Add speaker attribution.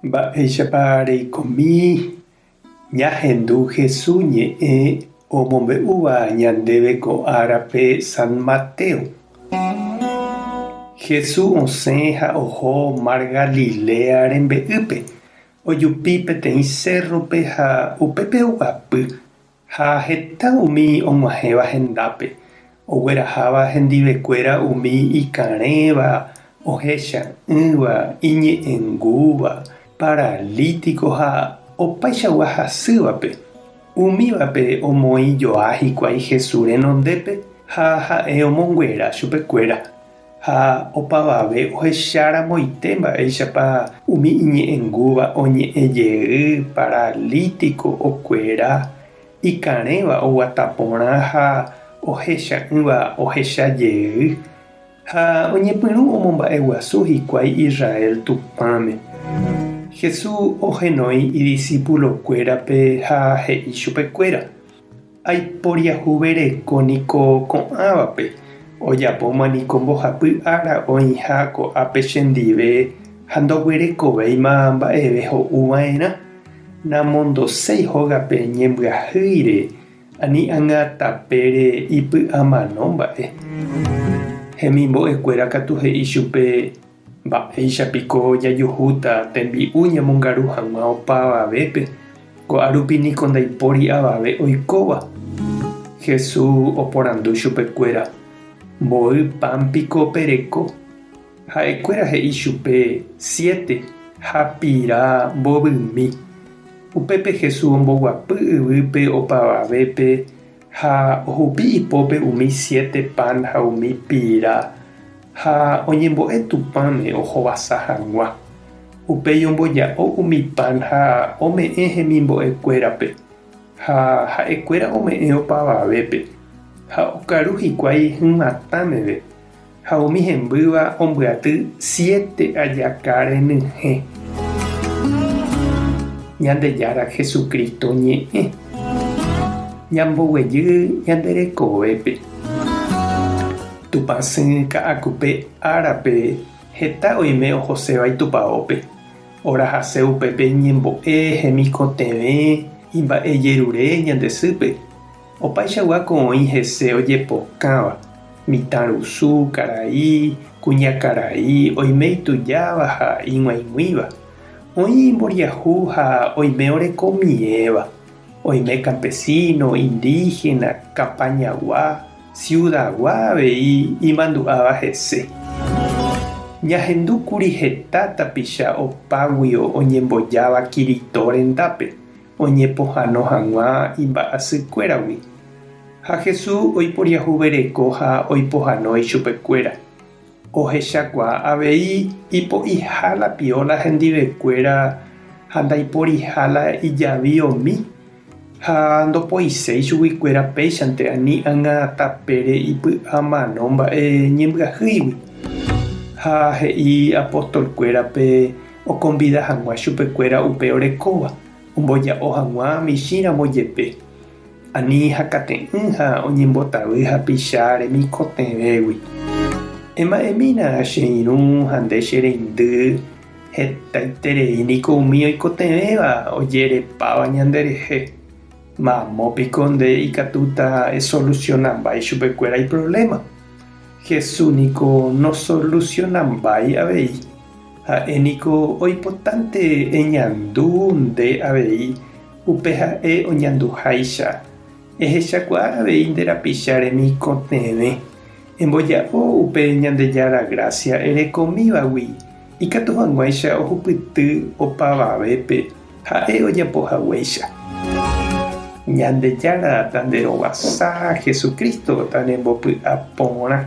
Speaker 1: Mba'éichapa reikomi ñahendu Hesu ñe'ẽ omombe'úva ñandéve ko árape San Mateo? Hesu osẽ ha oho Mar Galilea rembe'ýpe, ojupi peteĩ sérrope ha upépe oguapy Ha heta umi og̃uahẽva hendápe, ogueraháva hendivekuéra umi ikarẽva, ohecha'ỹva, iñe'ẽngúva, paralítiko ha opaichagua hasývape. Umívape omoĩ joa hikuái Jesús renondépe ha ha'e omonguera chupekuéra. Ha opavave ohecharamoite mba'éichapa umi iñe'ẽngúva oñe'ẽ jey paralítiko okuera, ikarẽva oguata porã ha ohecha'ỹva ohecha jey, ha oñepyrũ omomba'eguasu hikuái Israel Tupãme. Jesús ohenói idisípulokuérape ha he'i chupekuéra. Aiporiahuvereko niko ko'ãvape, ojapóma niko mbohapy ára oĩha ko'ápe chendive ha ndoguerekovéima mba'eve ho'u va'erã. Namondoséi hógape ñembyahýire ani ág̃a tapére ipy'amano mba'e. Hemimbo'ekuéra katu he'i chupe Mba'éicha piko jajuhúta tembi'u ñamongaru hag̃ua opa avavépe, ko'árupi niko ndaipóri avave oikóva? Jesús oporandu chupekuéra, Mboy pan piko pereko? Ha'ekuéra he'i chupe, Siete, ha pira mbovymi. Upépe Jesús omboguapy yvýpe opa avavépe Ha ohupi ipópe umi siete pan ha umi pira, ha oñembo'e Tupãme ohovasa hag̃ua. Upéi omboja'o umi pan ha ome'ẽ hemimbo'ekuérape, ha ha'ekuéra ome'ẽ opavavépe, ha okaru hikuái hymatã meve. Ha umi hembýva ombyaty siete ajaka renyhẽ. Ñandejára Jesucristo ñe'ẽ. Ñamboguejy ñande rekovépe. Tupã sỹ ka'akupe árape heta oime ohoséva Itupaópe. Orahase upépe ñembo'e hemikotevẽ imba'ejerure ñande sýpe. Opaichagua ko oĩ hese ojepokãva, mitãrusu, karai, kuñakarai, oime itujáva ha ig̃uaig̃uĩva, oĩ imboriahu ha oime oreko miẽva, oime kampesíno, indígena, kapañagua, siudagua avei imandu'áva hese. Ñahendúkuri heta tapicha opáguio oñembojáva Kirito rendápe, oñepohano hag̃ua imba'asykuéragui, ha Jesús oiporiahuvereko ha oipohano ichupekuéra. Ohechakuaa avei ipo'iha la pióla hendivekuéra ha ndaiporiha la ijavi omi, ha ndopoiséi chuguikuéra péichante ani ág̃a tapére ipy'amano mba'e ñembyahýigui. Ha he'i apostolkuérape okonvida hag̃ua chupekuéra upe orekóva omboja'o hag̃ua michĩramo jepe, ani hakate'ỹ ha oñembotavy hapicha remikotevẽgui. Ema'ẽmína che irũ ha nde che reindy, hetaiterei niko umi oikotevẽva ojerepáva ñanderehe, mamo piko nde ikatúta esolusionambái chupekuéra iprovléma? Jesús niko nosolusionambái avei. Ha'e niko oipotánte eñandu nde avei, upe ha'e oñanduháicha. Ehechakuaa avei nde rapicha remikotevẽ. Emboja'o upe Ñandejára grásia erekomívagui, ikatu hag̃uáicha ohupyty opavavépe ha'e ojapo haguéicha. Ñandejára tanderovasa, Jesucristo tanembopy'a porã.